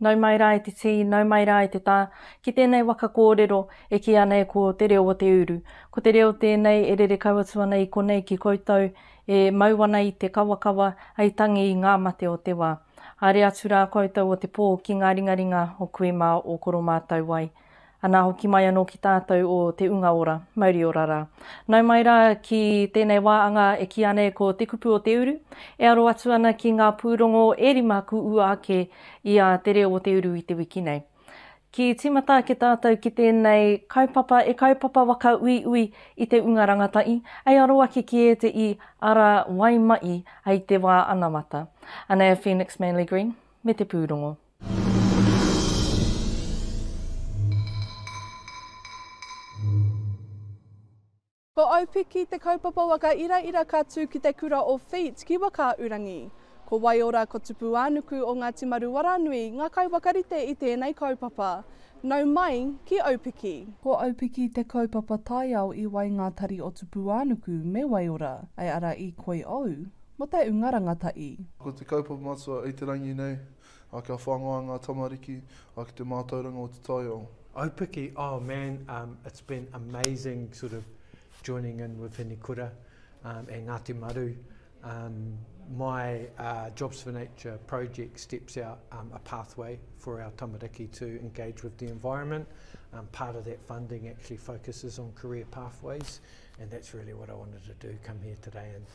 Nau mai rā e te tī, nau mai rā e te tā, ki tēnei waka kōrero e kī ana e koe o te reo o te uru. Ko te reo tēnei e rere kau atu ana i konei ki koutou, e mau ana i te kawakawa, hei tangi i ngā mate o te wā. Haere atu rā koutou o te pō ki ngā ringaringa o kui mā o koro mātou wai. Anā hoki mai anō ki tātou o Te Unga Ora, mauri ora rā. Nau mai rā ki tēnei wā anga e kīa nei ko Te Kupu o Te Uru, e aro atu ana ki ngā pūrongo e rima kū ua ake i a Te Reo o Te Uru i te wiki nei. Ki tīmata ake tātou ki tēnei kaupapa e kaupapa waka uiui i te unga rangatahi, hei aro ake ki ētehi ara wai mahi hei te wā anamata. Anea Phoenix Manley Green me te pūrongo. Ko Aupiki te kaupapa waka iraira ka tū ki te kura o Wheat ki Wakaaurangi. Ko Waiora ko Tupuānuku o Ngāti Maruwaranui ngā kaiwhakarite i tēnei kaupapa. Nau mai ki Aupiki. Ko Aupiki te kaupapa taiao i wai ngā tari o Tupuānuku me Waiora, ai ara i koi ou, mo te unga rangatahi. Ko te kaupapa matua i te rangi nei A kia whangaia nga tamariki, a ki te mātauranga o te taiao. Aupiki oh man um it's been amazing sort of joining in with Hine Kura um and Ngati Maru um my uh Jobs for Nature project steps out um a pathway for our tamariki to engage with the environment um part of that funding actually focuses on career pathways and that's really what I wanted to do come here today and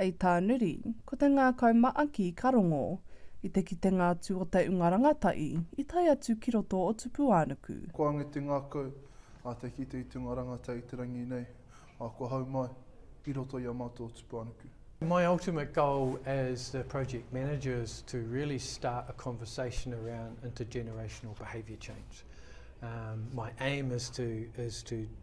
I tā Nuri, ko te ngākau maaki ka rongo i te kitenga atu o te unga rangatahi i tae atu ki roto o Tupuānuku. Ko Ange te ngākau a te kite i te unga rangatahi i te rangi nei, ā, kua hau mai i roto i a mātou o Tupuānuku. My ultimate goal as the project manager is to really start a conversation around intergenerational behaviour change. My aim is to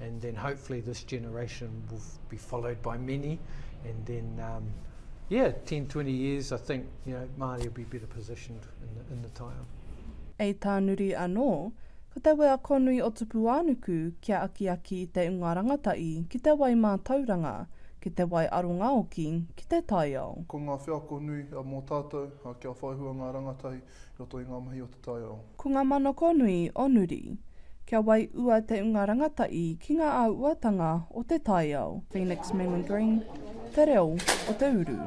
and then hopefully this generation will be followed by many, and then um, yeah, 10, 20 years, I think you know Māori will be better positioned in the, in the taiao. Ei tānuri anō, ko te wea konui o Tupuānuku kia akiaki i te unga rangatahi ki te wai mātauranga, ki te wai arongaoki, ki te taiao. Ko ngā wheako nui mō tātou kia whaihua ngā rangatahi i roto i ngā mahi o Toyo. Ko nga manoko nui o Nuri. Kia wai ua te unga rangata'i ki nga auatanga o te taiao. Phoenix Mimi Green, Te Reo o te Uru.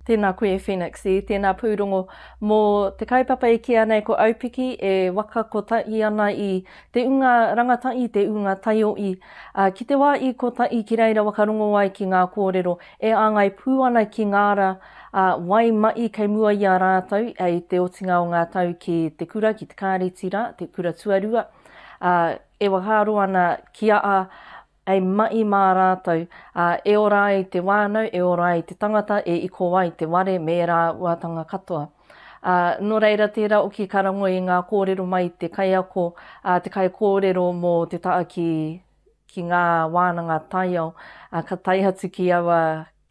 Tēnā koe e Phoenix i tēnā pūrongo. Mō te kaupapa e kīia nei ko Aupiki e waka kotahi ana i te unga rangatahi, te unga taiohi. Ā, ki te wā i kotahi ki reira whakarongo ai ki ngā kōrero e āngai pū ana ki ngā ara ā wai mahi kei mua i a rātou i te otinga o ngā tau ki te kura, ki te kāreti rā, te kura tuarua, ā, e whakaaro ana ki a a hei mahi mā rātou, ā, e ora ai te whānau, e ora ai te tangata e iko ai te ware me ērā uatanga katoa. Ā, nō reira tērā oki ka rangoi i ngā kōrero mai i te kaiako a te kaikōrero mō te taha ki, ki ngā wānanga taiao, ā, ka tae atu ki aua,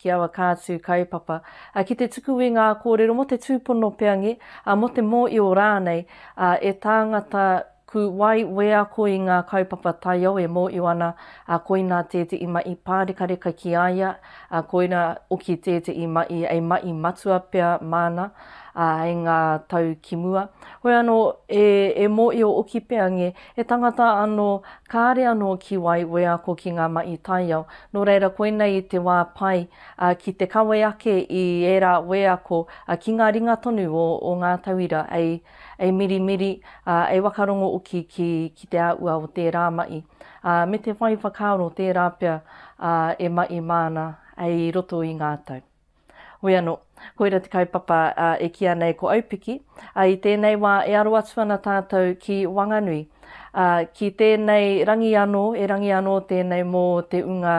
ki aua kātū kaupapa, ā, ki te tuku i ngā kōrero mō te tūpono peangi, ā, mō te mōio rānei, ā, e tāngata Ku wai wheako i ngā kaupapa taiao e mōio ana, ā, koinā tētehi maʻi pārekareka ki a ia, ā, koirā hoki tētehi maʻi hei maʻi matua pea māna, ā, hei ngā tau ki mua. Hoi anō, e, e mōio hoki pea nge, he tangata anō kāre anō ki wai wheako ki ngā maʻi taiao, nō reira koinei te wā pai, ā, ki te kawe ake i ērā wheako, ā, ki ngā ringa tonu o, o ngā tauira hei. e mirimiri, ā, e whakarongo hoki ki, ki te āhua o tērā mahi, ā, me te whai whakaaro tērā pea, ā, e mahi māna hei roto i ngā tau. Hoi anō, koira te kaupapa, ā, e kīa nei ko Aupiki, ā, i tēnei wā e aro atu ana tātou ki Wanganui, ā, ki tēnei rangi anō, erangi anō tēnei mō te ungā,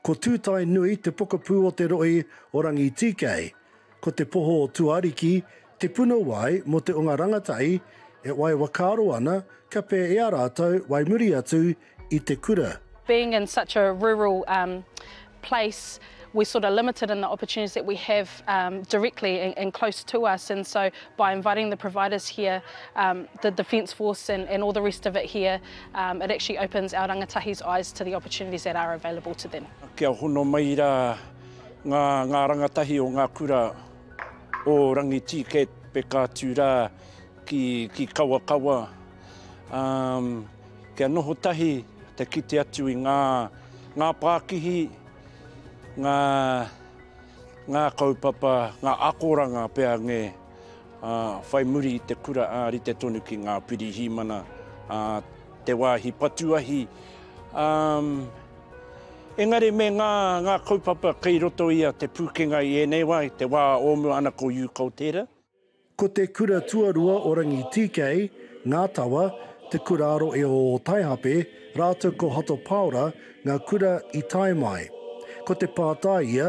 Ko Tūtaenui te pokapū o te rohe o Rangitīkei. Ko Te Poho o Tuariki te puna wai mō te o ngā rangatahi e wai wakaaro ana kia pē i a rātou wai muri atu i te kura. Being in such a rural um place we're sort of limited in the opportunities that we have um directly and and close to us and so by inviting the providers here um the defence force and and all the rest of it here It actually opens our rangatahi's eyes to the opportunities that are available to them. Kia hono mai rā ngā rangatahi o ngā kura o Rangitīkei peka atu rā ki Kawakawa, kia noho tahi te kite atu i ngā pākihi, ngā kaupapa, ngā akoranga pea ngē. ā, whai muri i te kura ā rite tonu ki ngā Pirihimana, ā, te wāhi patu ahi, ā, engari me ngā, ngā kaupapa kei roto i a Te Pūkenga i ēnei wā, i te wā o mua ana ko Yu Koutere. Ko te kura tuarua o Rangitīkei, Ngā Tawa, Te Kura Aro i o Ōtaihape rātou ko Hato Pāora ngā kura i tae mai. Ko te pātai ia,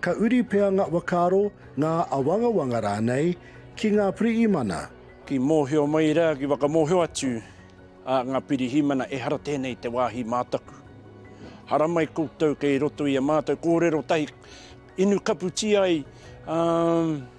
Ka uri pea ngā whakaaro, ngā awangawanga rānei ki ngā pirihimana. Ki mōhio mai rā, ki whakamōhio atu a ngā pirihimana ehara tēnei te wāhi mā taku. Haramai koutou kei roto i a mātou kōrero tahi inu kaputī ai, ā.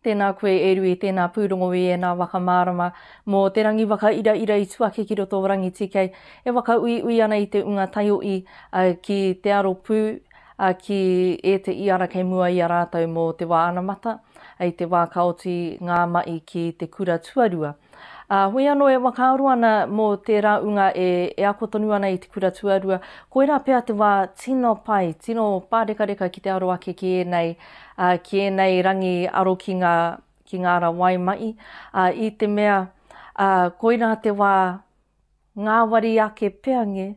Tēnā koe e Rui, tēnā pūrongo i ēnā waka mārama mō te rangi whakairaira i tuake ki roto o Rangitīkei, e whakauiui ana i te unga taioʻi ki te aro pū ki ēteʻi ara kei mua i a rātou mō te wā anamata, i te wā ka oti ngā maʻi ki te kura tuarua. Ā, hui anō e whakaaro ana mō tērā ūnga e ako tonu ana i te kura tuarua, koirā pea te wā tino pai, tino pārekareka ki te aro ake ki ēnei, ā, ki ēnei rangi aro ki ngā, ki ngā ara wai mahi, ā, i te mea, ā, koirā te wā. Ngāwari ake pea nge,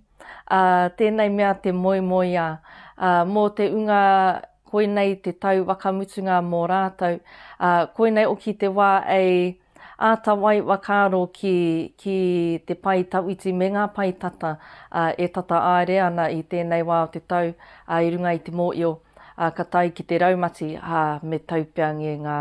ā, tēnei mea te moemoeā, ā, mō te unga koinei te tau wakamutunga mō rātou, ā, koinei oki te wā ei āta wai wakaaro ki, ki te pae tawhiti me ngā pae tata, ā, e tata āere ana i tēnei wā o te tau, ā, i runga i te mōio, ā, ka tae ki te raumati, ā, me tau pea nge ngā,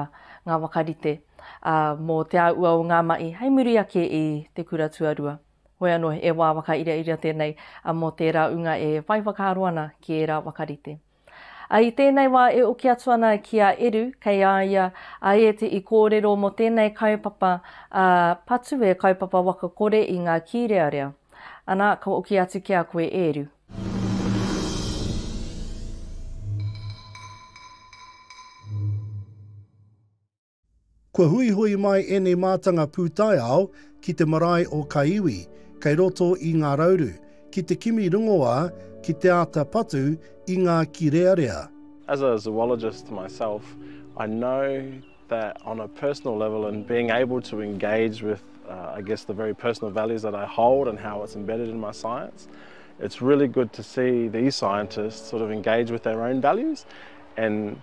ngā wakarite. ā, mō Te Āua o ngā Maʻi hei muri ake i te kura tuarua. Hoi anō, he wā whakairiaria tēnei mō tērā ūnga e whai whakaaro ana ki ērā waka rite. Ā, i tēnei wā e oki atu ana ki a Eru, kei a ia a Ēti i kōrero mō tēnei kaupapa, ā, patu e kaupapa waka kore i ngā kīrearea. Anā, ka hoki atu ki a koe e Eru. Kua huihui mai ēnei mātanga pūtaiao ki te marae o Kaiwi, kei roto i Ngā Rauru, ki te kimi rongoā, ki te āta patu i ngā kīrearea. As a zoologist myself, I know that on a personal level and being able to engage with I guess the very personal values that I hold and how it's embedded in my science, it's really good to see these scientists sort of engage with their own values and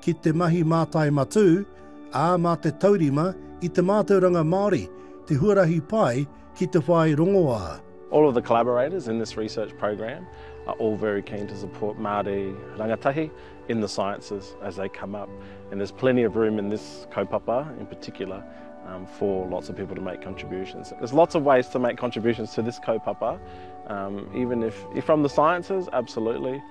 ki te mahi mātai matū, ā, mā te taurima i te mātauranga Māori te huarahi pai ki te whai rongoā. All of the collaborators in this research program are all very keen to support Māori rangatahi in the sciences as they come up and there's plenty of room in this kaupapa in particular for lots of people to make contributions. There's lots of ways to make contributions to this kaupapa, even if you're from the sciences, absolutely.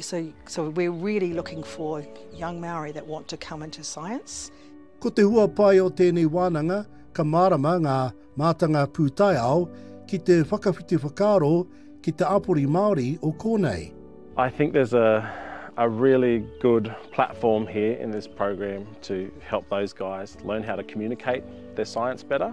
So, so we're really looking for young Maori that want to come into science. Ko te hua pai o tēnei wānanga, ka mārama ngā mātanga pūtaiao ki te whakawhiti whakaaro ki te āpori Māori o kōnei. I think there's a, a really good platform here in this program to help those guys learn how to communicate their science better.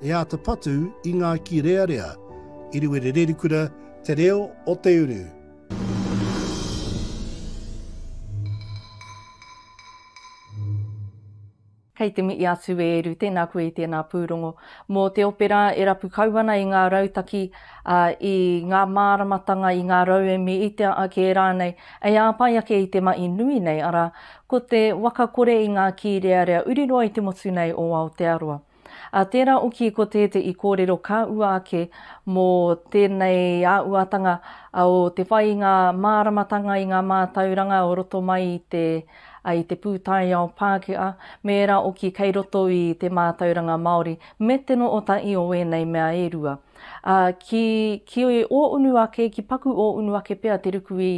E āta patu i ngā kīrearea. Iriwere Rerikura, Te Reo o Te Uru. Kei te mihi atu e Eru, tēnā koe i tēnā pūrongo. Mō te opera e rapu kau ana i ngā rautaki, i ngā māramatanga, i ngā rauemi, i te ake rānei, hei āpai ake i te mahi nui nei, arā, ko te waka kore i ngā kīrearea uri noa i te motu nei o Aotearoa. Ā tērā oki ko tē te i kōrero ka ua ake mō tēnei āuatanga o te whai i ngā māramatanga i ngā mātauranga o roto mai i te i te pūtaiao Pākehā me ērā oki kei roto i te mātauranga Māori me te no otahi o ēnei mea e rua. Ā ki ki ō unu ake ki paku ō unu ake pea te ruku i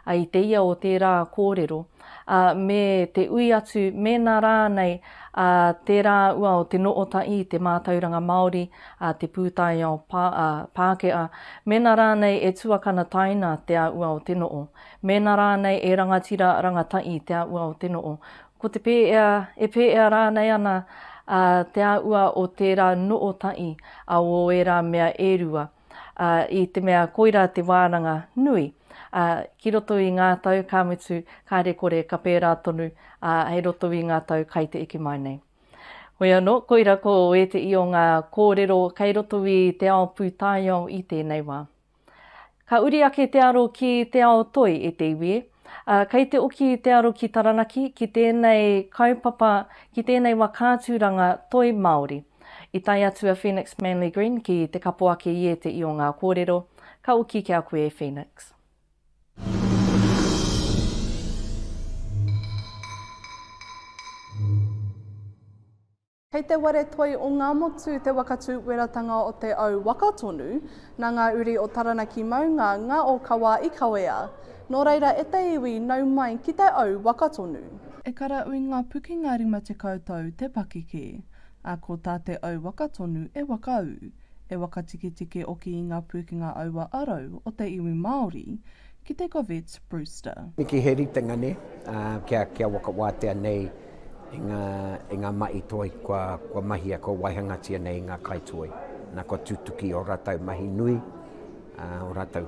I te ia o tērā kōrero, ā, me te ui atu mēnā rānei ā tērā ua o te Nootaʻi i te mātauranga Māori, ā te pūtaiao Pā, ā, Pākehā, mēnā rānei e tuakana taina te a ua o te noo, mēnā rānei e rangatira rangataʻi te a ua o te noo, ko te pēea, e pēea rānei ana ā te a ua o tērā Nootaʻi, ā o ērā mea e rua, ā, i te mea koirā te wānanga nui, ā, ki roto i ngā tau, ka mutu, kāre kore ka pērā tonu, ā, hei roto i ngā tau kai te eke mai nei. Hoi anō, koira ko ēteʻi o ngā kōrero kei roto i te ao pūtaiao i tēnei wā. Ka uri ake te aro ki te ao toi, e te iwi e. Ā, kei te oki te aro ki Taranaki, ki tēnei kaupapa, ki tēnei wā kātūranga toi Māori. I tae atu a Phoenix Manly Green ki te kapoake i ēteʻi o ngā kōrero, ka oki ki a koe e Phoenix. Kei te ware toi o Ngamotu te waka tūweratanga o te au waka tonu, nā ngā uri o Taranaki maunga, ngā ōkawa i kawea. Nō reira e te iwi, nau mai ki te au waka tonu. E kara ui ngā pukenga rima tekau tau te pakeke. Ā, ko tā te au waka tonu e wakaū, e wakatiketike oki i ngā pūkenga aua arau o te iwi Māori, ki te Govett Brewster. Niki he ritenga ne, kia wakawatea nei i nga mahi toi kua mahia, kua waihangatia nei i nga kai toi. Na kua tutuki o ratou mahi nui, o ratou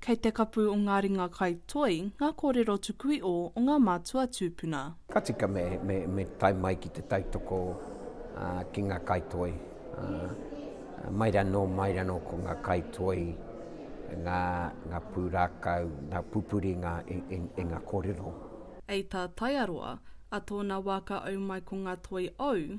Kei te kapu o ngā ringa kai toi ngā kōrero tukuiō o ngā mātua tūpuna. Ka tika me, me, me tae mai ki te tautoko ā, ki ngā kai toi. Ā, mai ranō, mai ranō ko ngā kai toi, ngā, ngā pūrākau, ngā pupuri i ngā, i, i, i ngā kōrero. Ei tā Taiaroa, a tōna wā ka au mai ko ngā toi ōu,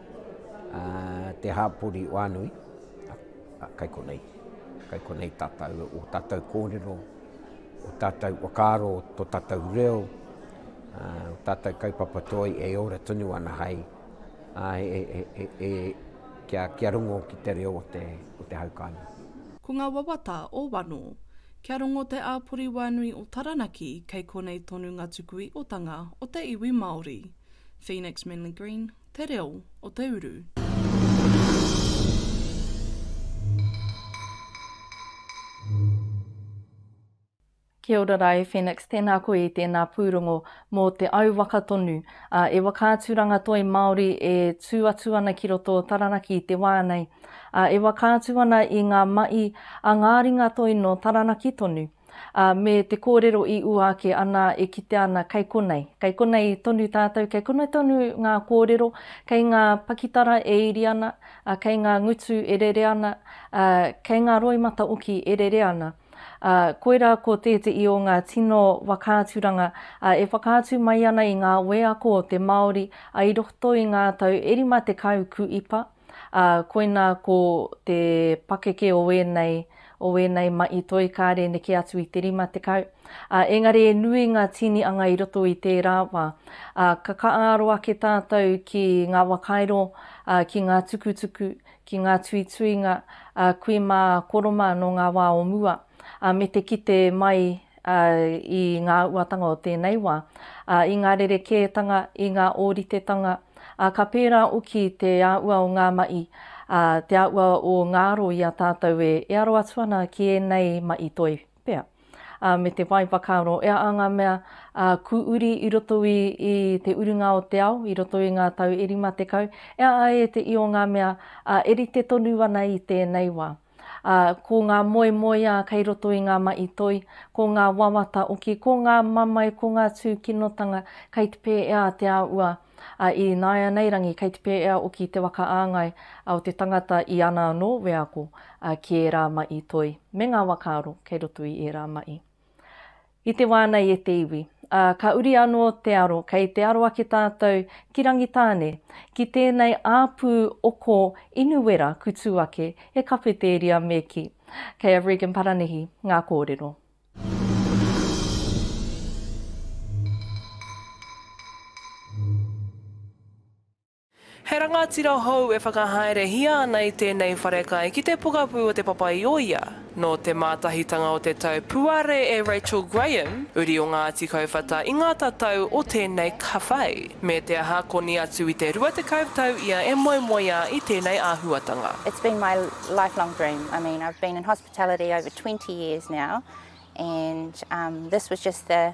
ā, te hāpori o Anui, ā, kai konei, kai konei tātou, ō tātou kōrero, ō tātou whakaaro, tō tātou reo, ā, ō tātou kaupapa toi e ora tonu ana hai, ā, e, e, e, e, kia, kia rongo ki te reo o te, o te hau kāinga. Ko ngā wawata o Wano. Kia rongo te āpori wānui o Taranaki kei konei tonu ngā tuku iotanga o te iwi Māori. Phoenix Manley Green. te reo o te uru. Kia ora rā e Phoenix, tēnā koe i tēnā pūrongo mō te au waka tonu. Ā, e Whakaaturanga Toi Māori e tū atu ana ki roto o Taranaki i te wā nei. Ā, e whakaatu ana i ngā mahi a ngā ringa toi nō Taranaki tonu. ā, me te kōrero i ua ake anā e kitea ana kei konei, kei konei tonu tātou, kei konei tonu ngā kōrero, kei ngā pakitara e iri ana, ā, kei ngā ngutu e rere ana, ā, kei ngā roimata oki e rere ana. Ā, koirā ko tētehi o ngā tino whakaaturanga, ā, e whakaatu mai ana i ngā wheako o te Māori, ā, i roto i ngā tau e rima tekau kuipa, ā, koinā ko te pakeke o ēnei, o ēnei mahi toi kāre neke atu i te 50, ā, engari e nui ngā tīnianga i roto i tērā wā, ā, ka kāaro ake tātou ki ngā wakairo, ā, ki ngā tukutuku, ki ngā tuituinga, ā, kui mā koroma nō ngā wā o mua, ā, me te kite mai ā, i ngā uatanga o tēnei wā, ā, i ngā rerekētanga, i ngā ōritetanga, ā, ka pērā oki te āhua o ngā maʻi, ā, te āhua o ngā aro i a tātou e, e aro atu ana ki ēnei maʻi toi pea, ā, me te whai whakaaro, e aha ngā mea, ā, kū uri i roto i, i te urunga o te ao, i roto i ngā tau e rima tekau, e aha e te io ngā mea, ā, e rite tonu ana i tēnei wā. ā, ko ngā moemoeā kei roto i ngā mahi toi, ko ngā wawata oki, ko ngā mamae, ko ngā tūkinotanga kei te pēea te āhua i nāianei rangi, kei te pēea oki te whakaāngai o te tangata i ana anō wheako ki ērā mahi toi me ngā wakaaro kei roto i ērā mahi. I te wā nei e te iwi, ā, ka uri anō te aro, kei te aro ake tātou ki Rangitāne, ki tēnei āpū oko inu wera kutū ake e Kawhetēria me ki. Kei a Regan Paranihi ngā kōrero. He rangatira hou e whakahaerehia ana i tēnei wharekai ki te pokapū o Te Papa-i-ōia. Nō te mātahitanga o te tau puare e Rachel Graham, uri o Ngāti Kauwhata i ngā tatau o tēnei kawhai, me te aha koni atu i te rua tekau tau ia e moemoeā i tēnei āhuatanga. It's been my lifelong dream, I mean I've been in hospitality over twenty years now and this was just the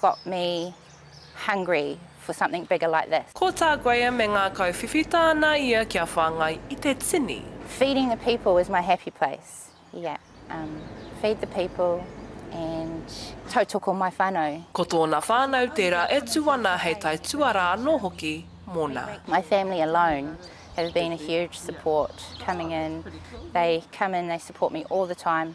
got me hungry for something bigger like this. Ko tā Graham e ngākau whiwhita ana ia kia whāngai i te tini. Feeding the people is my happy place, yeah, um, feed the people and tautoko my whanau. Ko tōna whānau tērā e tū ana hei tae tuarā anō hoki mōna. My family alone have been a huge support coming in, they come in, they support me all the time.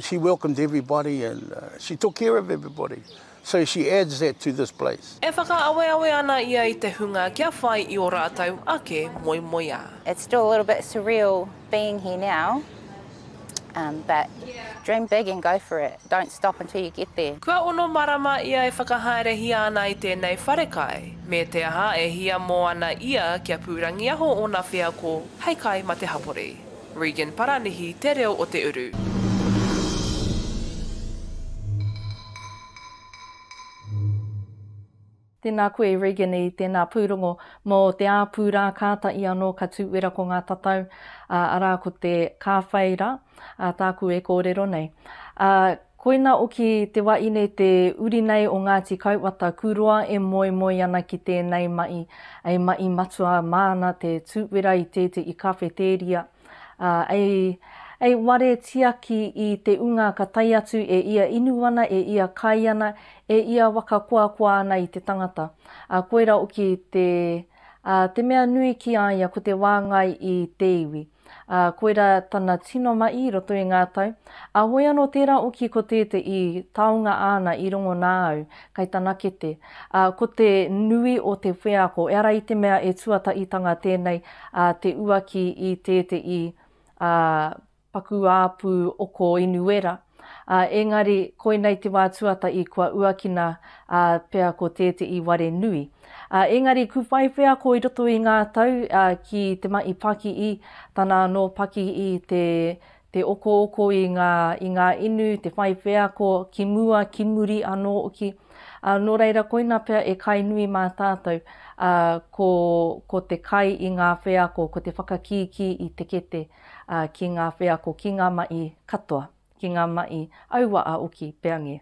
She welcomes everybody and she took care of everybody. So she adds that to this place. E whakaaweawe ana ia i te hunga kia whai i ō rātou ake moemoeā. It's still a little bit surreal being here now but dream big and go for it, don't stop until you get there. Kua ono marama ia e whakahaerehia ana i tēnei wharekai, me te aha e hiamo ana ia kia pūrangiaho ōna wheako hei kai mate hapori. Regan Paranihi te reo o te uru. Tēnā koe Regan i tēnā pūrongo mō te āpū rā kāta i anō ka tū wera ko ngā tatau, arā ko te kāwhai rā, tāku e kōrero nei. Koina oki te wa ine te uri nei o Ngati Kauwata ku roa e moemoi ana ki tenei ma'i, ei ma'i matua maana te tu'wera i te te i kawheteria, a, ei, ei ware tiaki i te unga ka tae atu e ia inu ana e ia kai ana, e ia waka koakoa ana i te tangata. A koira oki te, a, te mea nui ki a ia ko te wa ngai i te iwi. ā, koirā tana tino mahi i roto i ngā tau, ā, hoi anō tērā oki ko tēte i taonga āna i rongo nā au, kai tana kete, ā, ko te nui o te wheako, eara i te mea e tuataitanga tēnei, ā, te uaki i tēte i, ā, paku āpū oko Inuera. Ā, engari, koinei te wā tuata i kua uakina, ā, pea ko tēteʻi ware nui. Ā, engari, ku whai wheako i roto i ngā tau, ā, ki te mahi pakii, tana anō pakii, te, te okooko i ngā, i ngā inu, te whai wheako ki mua, ki muri anō hoki. Ā, nō reira, koina pea e kai nui mā tātou, ā, ko, ko te kai i ngā wheako, ko te whakakīkī i te kete. ā, ki ngā wheako, ki ngā maʻi katoa, ki ngā maʻi aua a Oki Peange.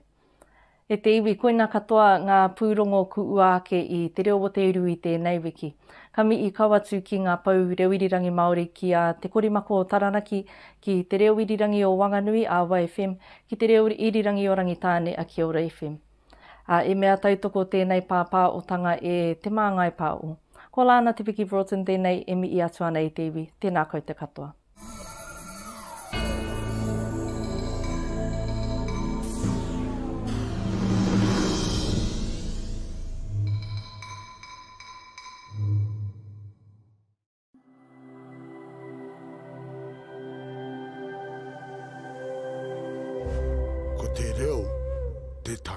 E te iwi, koina katoa ngā pūrongo kuʻua ake i Te Reo o Te Uru i tēnei wiki. Ka mihi kau atu ki ngā pou reo irirangi Māori, ki a Te Korimako o Taranaki, ki Te Reo Irirangi o Wanganui, a Wai FM, ki Te Reo Irirangi o Rangitāne, a Kiora FM. Ā, i mea tautoko tēnei pāpā o Tanga e Te Māngai Pāo. Ko Lāna Te Piki Broughton tēnei e mihi atu ana e te iwi. Tēnā koutou katoa. Tēnā koutou.